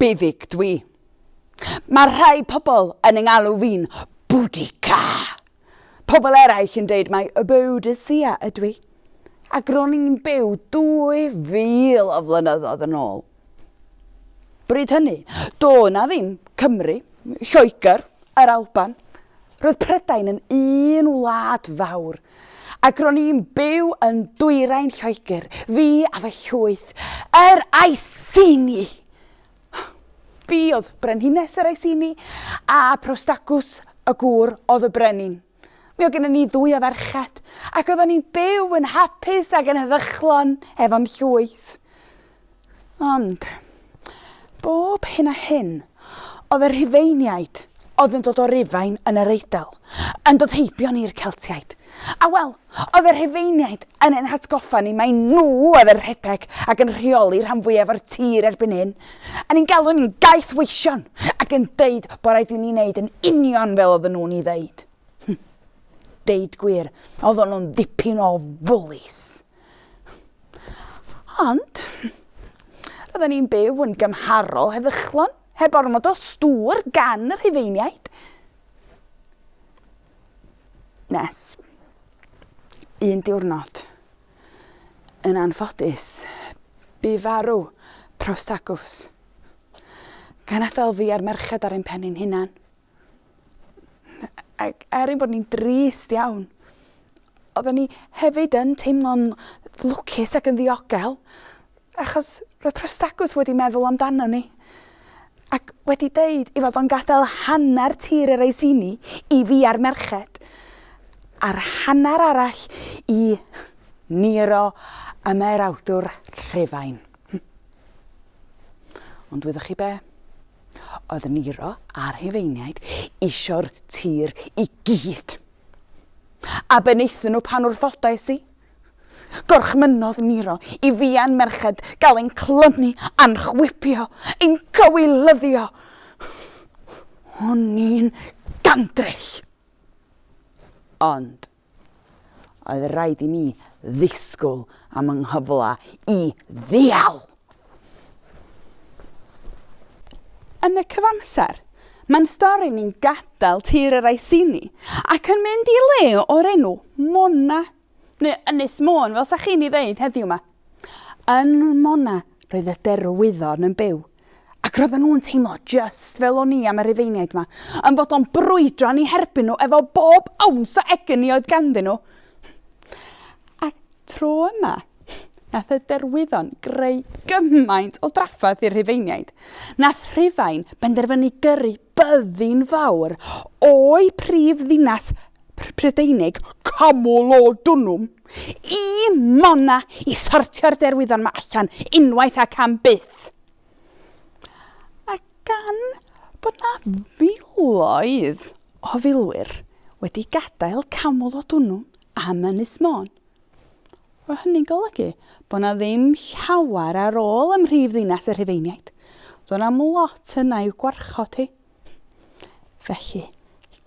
Byddig dwi. Mae rhai pobl yn yng ngalw fi'n Boudica. Pobl eraill yn dweud mai y Boudicea ydw i. Ac ro'n i'n byw 2000 o flynyddoedd yn ôl. Bryd hynny, do na ddim Cymru, Lloegr, yr Alban. Roedd Prydain yn un wlad fawr Ac ro'n i'n byw yn dwyrain Lloegr, fi a fy llwyth, yr Iceni! Fi oedd brenhines yr Iceni, a Prostacws y gŵr oedd y brenin. Mi oedd gennym ni ddwy o ferched, ac oeddwn ni'n byw yn hapus ac yn heddychlon efo'n llwyth. Ond, bob hyn a hyn, oedd y Rhufeiniaid oedd yn dod o Rufain yn yr Eidal yn dod heibion i'r Celtiaid. A wel, oedd y Rhufeiniaid yn ein hatgoffa ni mai nhw oedd yn rhedeg ac yn rheoli rhan fwyaf o'r tir erbyn hyn, a ni'n galw ni'n gaethweision ac yn deud bod rhaid i ni wneud yn union fel oedden nhw'n ei ddeud. Deud gwir, oedden nhw'n ddipyn o fwlis. Ond, roedden ni'n byw yn gymharol heddychlon, heb ormod o stŵr gan y Rhufeiniaid. Nes, un diwrnod, yn anffodus, bu farw Prostacws. Gan adael fi a'r merched ar ein pen ein hunan. Ac er ein bod ni'n drist iawn, oedden ni hefyd yn teimlo'n lwcus ac yn ddiogel, achos roedd Prostacus wedi meddwl amdano ni, ac wedi deud ei fod o'n gadael hanner tir yr Eisini i fi a'r merched, a'r hanner arall i Nero y mae'r awdwr Rhufain. Ond wyddoch chi be? oedd Nero a'r Rhufeiniaid isio'r tir i gyd. A be wnaethon nhw pan wrthodais i? Gorchmynnodd Nero i fia'n merched gael ein clymu a'n chwipio, ein cywilyddio. O'n i'n gandryll. Ond Oedd rhaid i mi ddisgwyl am yng nghyfle i ddeall! Yn y cyfamser, mae'n stori ni'n gadael tir yr Iceni ac yn mynd i le o'r enw Mona, neu Ynys Môn fel sa chi'n ei ddeud heddiw 'ma. Yn Mona roedd y derwyddon yn byw. Ac roedden nhw'n teimlo just fel o'n i am y Rufeiniaid yma, yn fod o'n brwydro yn ei herbyn nhw efo bob awns o egni oedd ganddyn nhw. A tro yma, nath y derwyddon greu gymaint o drafferth i'r Rhufeiniaid. Nath Rhufain benderfynu gyrru byddin fawr o'i prif ddinas Prydeinig, Camulodunum, Y mona i sortio'r derwyddon 'ma allan unwaith ac am byth. A gan bod 'na filoedd o filwyr wedi gadael Camelot Unum am Ynys Môn, fo hynny'n golygu bod 'na ddim llawer ar ôl ym mhrif ddinas y Rhufeiniaid. Do'n a'm lot yna i'w gwarchod hi. Felly,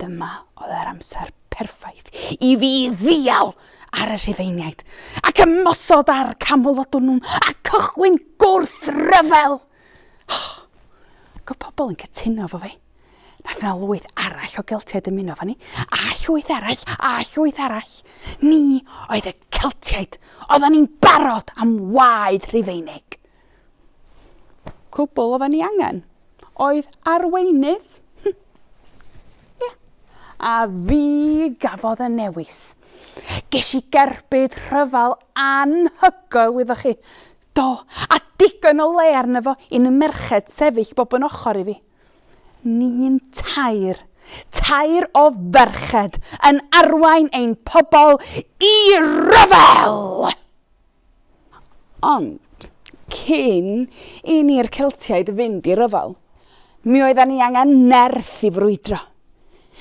dyma oedd yr amser perffaith i fi ddial ar y Rhufeiniaid ac ymosod ar Camalodunum a cychwyn gwrthryfel! Oh, ac oedd pobl yn cytuno efo fi. Nath yna lwyth arall o Geltiaid ymuno efo ni, a llwyth arall, a llwyth arall. Ni oedd y Celtiaid, oedden ni'n barod am waed Rhufeinig. Cwbl oedden ni angen oedd arweinydd. Ie. A fi gafodd y newis. Ges i gerbyd rhyfel anhygoel, wyddoch chi. Do, a digon o le arno fo i ni merched sefyll bob yn ochr i fi. Ni'n tair, tair o ferched yn arwain ein pobl i ryfel! Ond, cyn i ni'r Celtiaid fynd i ryfel, mi oeddan ni angen nerth i frwydro.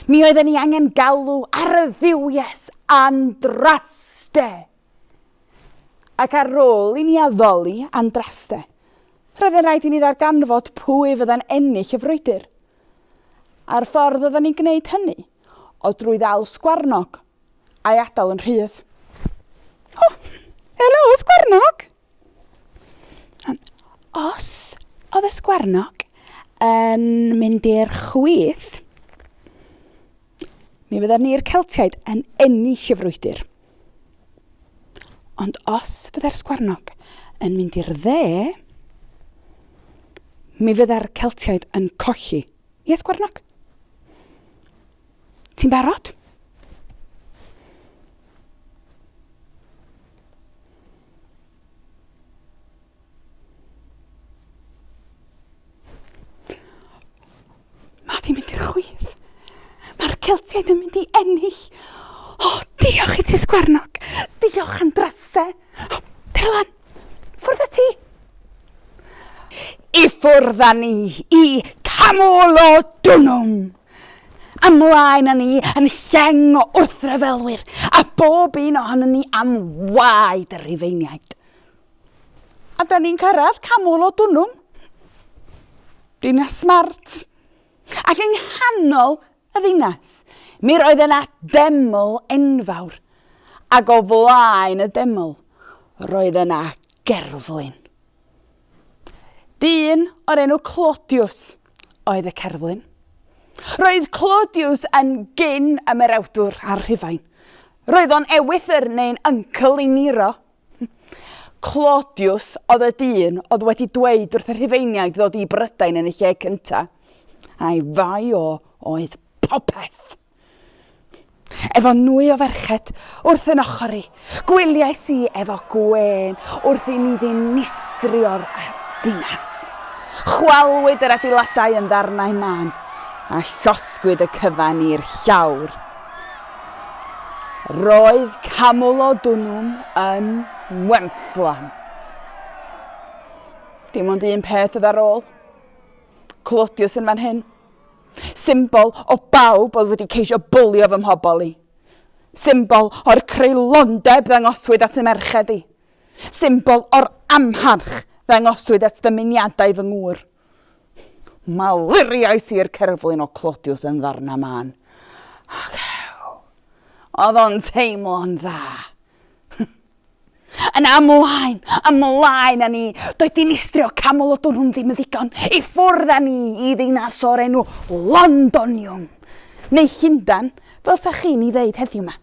Mi oeddan ni angen galw ar y dduwies Andraste! Ac ar ôl i ni addoli Andraste, roedd yn rhaid i ni ddarganfod pwy fydda'n ennill y frwydr. A'r ffordd oeddan ni'n gwneud hynny oedd drwy ddal sgwarnog a'i adael yn rhydd. O! Helo, Ysgwarnog! Os oedd Ysgwarnog yn mynd i'r chwith, mi fydden ni'r Celtiaid yn ennill y frwydr. Ond os fydde'r Sgwarnog yn mynd i'r dde, mi fydde'r Celtiaid yn colli. Ie, Sgwarnog? Ti'n barod? Mae di mynd i'r chwith. Mae'r Celtiaid yn mynd i ennill. O, oh, diolch i ti sgwarnog. Diolch am drase. Oh, Dylan, ffwrdd y ti. I ffwrdd â ni i camol o dwnnwm. Ymlaen â ni yn lleng o wrthryfelwyr, a bob un ohonon ni am waed y Rhufeiniaid. A da ni'n cyrraedd canol o Dwnnwm, dinas Mart, ac yng nghanol y ddinas, mi roedd yna deml enfawr, ac o flaen y deml, roedd yna gerflun. Dyn o'r enw Claudius, oedd y cerflun. Roedd Claudius yn gyn ymerawdwr ar Rhufain. Roedd o'n ewythr neu'n uncle i Nero. Claudius oedd y dyn oedd wedi dweud wrth y Rhufeiniaid ddod i Brydain yn y lle cyntaf. A'i fai o oedd popeth. Efo nwy o ferched wrth yn ochr i, gwyliais i efo gwên wrth i ni ddinistrio'r ddinas. Chwalwyd yr adeiladau yn ddarnau mân a llosgwyd y cyfan i'r llawr. Roedd Camulodunum yn wenfflam. Dim ond un peth oedd ar ôl. Clodius yn fan hyn. Symbol o bawb oedd wedi ceisio bwlio fy mhobl i. Symbol o'r creulondeb ddangoswyd at y merched i. Symbol o'r amharch ddangoswyd at ddymuniadau fy ngŵr. Maluriais i'r cerflun o Clodiws yn ddarnau mân. Ac ew! Oedd o'n teimlo'n dda! Yn amlaen, ymlaen â ni! Doedd dinistrio Camelodon hwn ddim yn ddigon i ffwrdd â ni i ddinas o'r enw Londonium, neu Llundan, fel sa chi'n ei ddeud heddiw 'ma.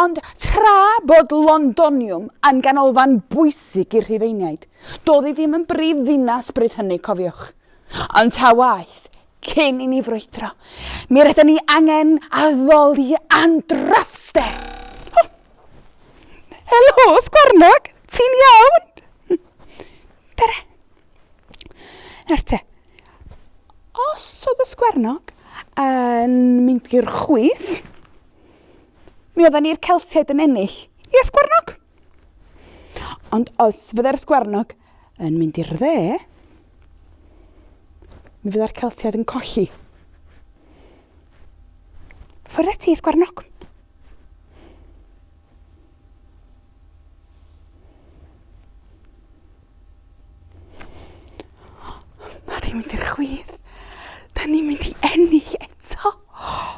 Ond tra bod Londonium yn ganolfan bwysig i'r Rhufeiniaid, doedd hi ddim yn brifddinas bryd hynny, cofiwch. Ond ta waeth, Cyn i ni frwydro, mi rydyn ni angen addoli Andraste! O! Helo, Sgwarnog! Ti'n iawn? Tere! Nawr te, os oedd y Sgwarnog yn mynd i'r chwith, mi oedden ni'r Celtiaid yn ennill. Ie, Sgwarnog? Ond os fydde'r Ysgwernog yn mynd i'r dde, mi fydda'r Celtiaid yn colli. Ffwrdd ati, Ysgwernog. Mae di mynd i'r chwith. Da ni'n mynd i ennill eto.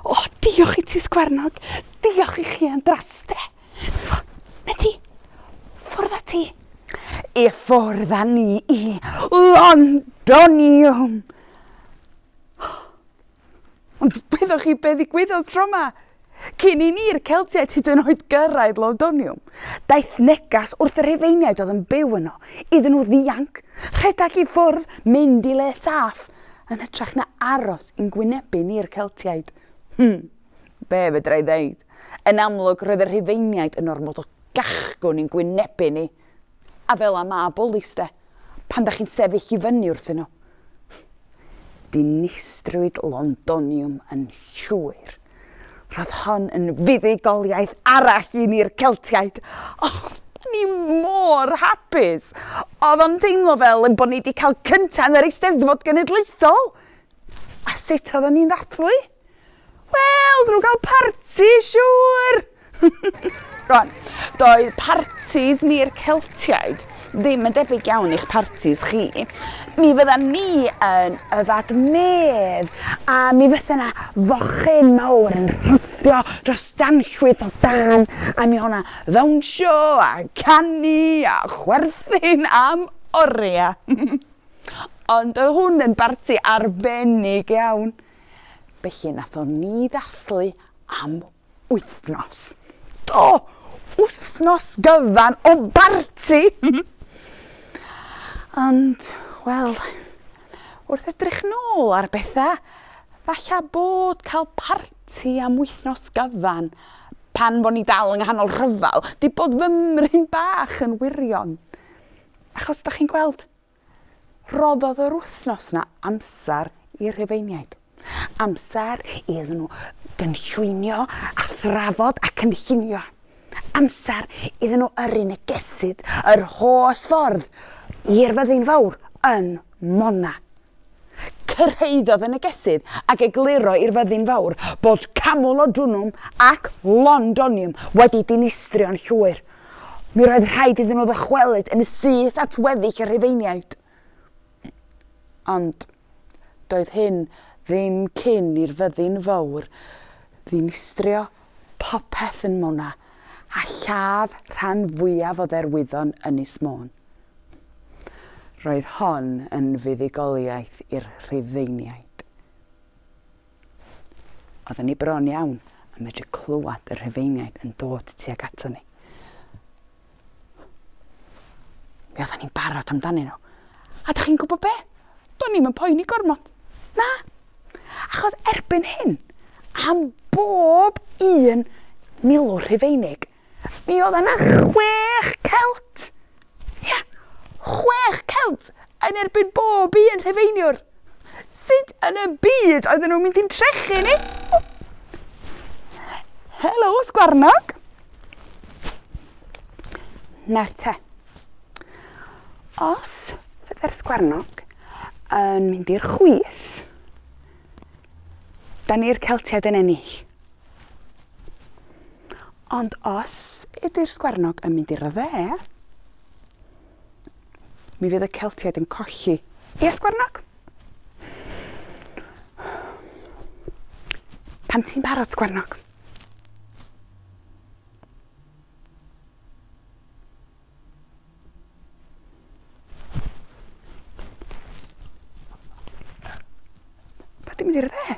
O, diolch i ti, Sgwernog. Diolch i chi, Andraste. Medi! Ffwrdd â ti! I ffwrdd â ni i Londonium! Ond wyddoch chi be ddigwyddodd tro ma? Cyn i ni'r Celtiaid hyd yn oed gyrraedd Londonium, daeth negas wrth y Rhufeiniaid oedd yn byw yno iddyn nhw ddianc, rhedeg i ffwrdd, mynd i le saff, yn hytrach na aros i'n gwynebu ni'r Celtiaid. Hmm. Be fedra i ddeud? Yn amlwg, roedd y Rhufeiniaid yn ormod o gachgwn i'n gwynebu ni. A fel a ma bwlis de, pan da chi'n sefyll i fyny wrthyn nhw. Dinistrwyd Londoniwm yn llwyr. Roedd hon yn fuddugoliaeth arall i ni'r Celtiaid. O, da ni mor hapus! Oedd o'n teimlo fel ein bod ni wedi cael cyntaf yn yr Eisteddfod Genedlaethol! A sut oeddwn ni'n ddathlu? Wel, dyn nhw'n cael parti, siŵr! Rwan, doedd partis ni'r Celtiaid ddim yn debyg iawn i'ch partis chi. Mi fydda ni yn yfad medd a mi fysa yna fochyn mawr yn rhostio dros danllwyth o dan a mi o'na ddawnsio a canu a chwerthin am oriau. Ond oedd hwn yn barti arbennig iawn. Felly nathon ni ddathlu am wythnos. Do! Wythnos gyfan o barti! Ond, wel, wrth edrych nôl ar bethau, falla bod cael parti am wythnos gyfan pan fo ni dal yng nghanol rhyfel di bod fy mryn bach yn wirion. Achos da chi'n gweld, Rhoddodd yr wythnos 'na amser i'r Rhufeiniaid. Amser iddyn nhw gynllwynio a thrafod a cynllunio. Amser iddyn nhw yrru negesydd yr holl ffordd i'r fyddin fawr yn Mona. Cyrhaeddodd y negesydd ac egluro i'r fyddin fawr bod Camulodunum ac Londonium wedi dinistrio'n llwyr Mi roedd rhaid iddyn nhw ddychwelyd yn syth at weddill y Rhufeiniaid. Ond doedd hyn ddim cyn i'r fyddin fawr ddinistrio popeth yn Mona a lladd rhan fwyaf o dderwyddon Ynys Môn. Roedd hon yn fuddugoliaeth i'r Rhufeiniaid. Oedden ni bron iawn yn medru clywed y Rhufeiniaid yn dod tuag ato ni. Mi oedden ni'n barod amdanyn nhw. A da chi'n gwybod be? Do'n ni'm yn poeni gormod. Na! Achos erbyn hyn, am bob un milwr Rhufeinig, Mi oedd yna chwech Celt! Ie, chwech Celt yn erbyn bob un Rhufeiniwr! Sut yn y byd oedden nhw'n mynd i'n trechu ni? Helo, sgwarnog! Na'r te. Os fydde'r sgwarnog yn mynd i'r chwith, da ni'r Celtiaid yn ennill. Ond os ydy'r sgwarnog yn mynd i'r dde, mi fydd y Celtiaid yn colli. Ie, sgwarnog? Pan ti'n barod, sgwarnog. Dwi mynd i'r dde.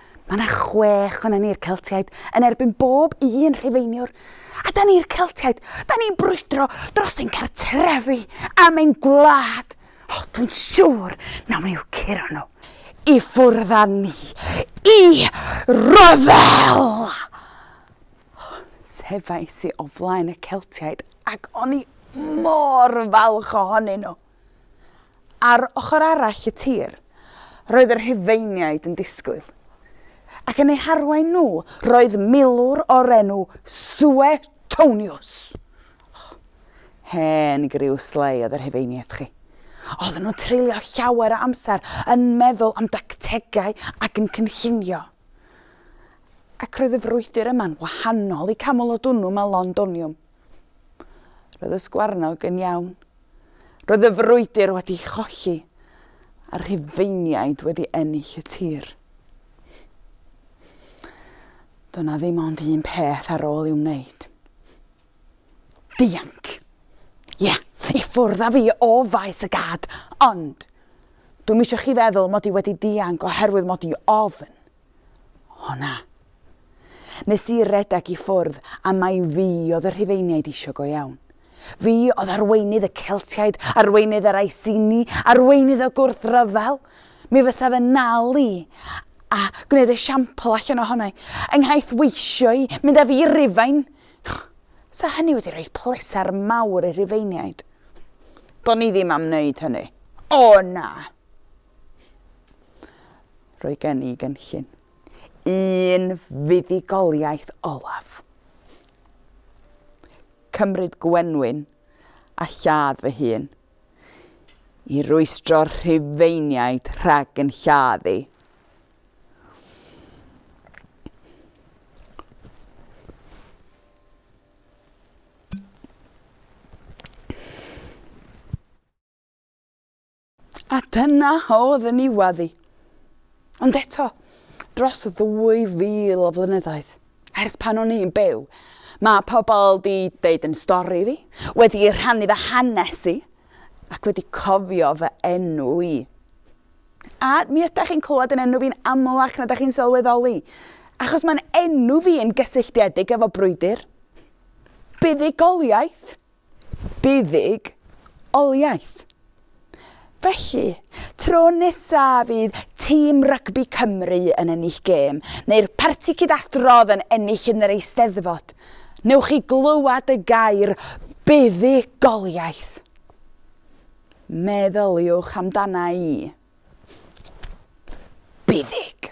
Mae 'na chwech ohonan ni'r Celtiaid yn erbyn bob un Rhufeiniwr. A 'da ni'r Celtiaid, 'da ni'n brwydro dros ein cartrefi am ein gwlad. O, dwi'n siŵr nawn ni i'w curo nhw i ffwrdd â ni i ryfel! Sefais i o flaen y Celtiaid ac o'n i mor falch ohonyn nhw. Ar ochr arall y tir, roedd y Rhufeiniaid yn disgwyl. Ac yn eu harwain nhw, roedd milwr o'r enw Suetonius. O, hen griw slei oedd y Rhufeiniaid, chi. Oedden nhw'n treulio llawer o amser yn meddwl am dactegau ac yn cynllunio. Ac roedd y frwydr yma'n wahanol i Camalodunum a Londonium. Roedd y sgwarnog yn iawn. Roedd y frwydr wedi cholli a rhufeiniaid wedi ennill y tir. Doedd na ddim ond un peth ar ôl i'w wneud. Dianc! Ie, yeah, i ffwrdd â fi o faes y gad, ond dwi'n eisiau chi feddwl mod i wedi dianc oherwydd mod i ofn. Honna! Nes i redeg i ffwrdd a mai fi oedd y Rhufeiniaid isio go iawn. Fi oedd arweinydd y Celtiaid, arweinydd yr Iceni, arweinydd y gwrthryfel! Mi fysa fy nal i a gwneud esiampl allan ohona i, yng nghaeth weisio i, mynd â fi i Rufain! Sa hynny wedi rhoi pleser mawr i'r Rhufeiniaid. Do'n i ddim am wneud hynny. O na! Roedd gen i gynllun. Un fuddugoliaeth olaf. Cymryd gwenwyn a lladd fy hun. I rwystro'r rhufeiniaid rhag yn lladd i. A dyna oedd yn niwedd i. Ond eto, dros 2,000 o flynyddoedd, ers pan o'n i'n byw, mae pobl 'di deud yn stori fi, wedi rhannu fy hanes i, ac wedi cofio fy enw i. A mi ydych chi'n clywed yn enw fi'n amlach na dych chi'n sylweddoli, achos mae'n enw fi yn gysylltiedig efo brwydr, buddugoliaeth, buddug oliaeth. Felly, tro nesa fydd tîm rygbi Cymru yn ennill gêm, neu'r parti cyd-adrodd yn ennill yn yr Eisteddfod, newch chi glywed y gair 'buddugoliaeth'. Meddyliwch amdana i. Buddug.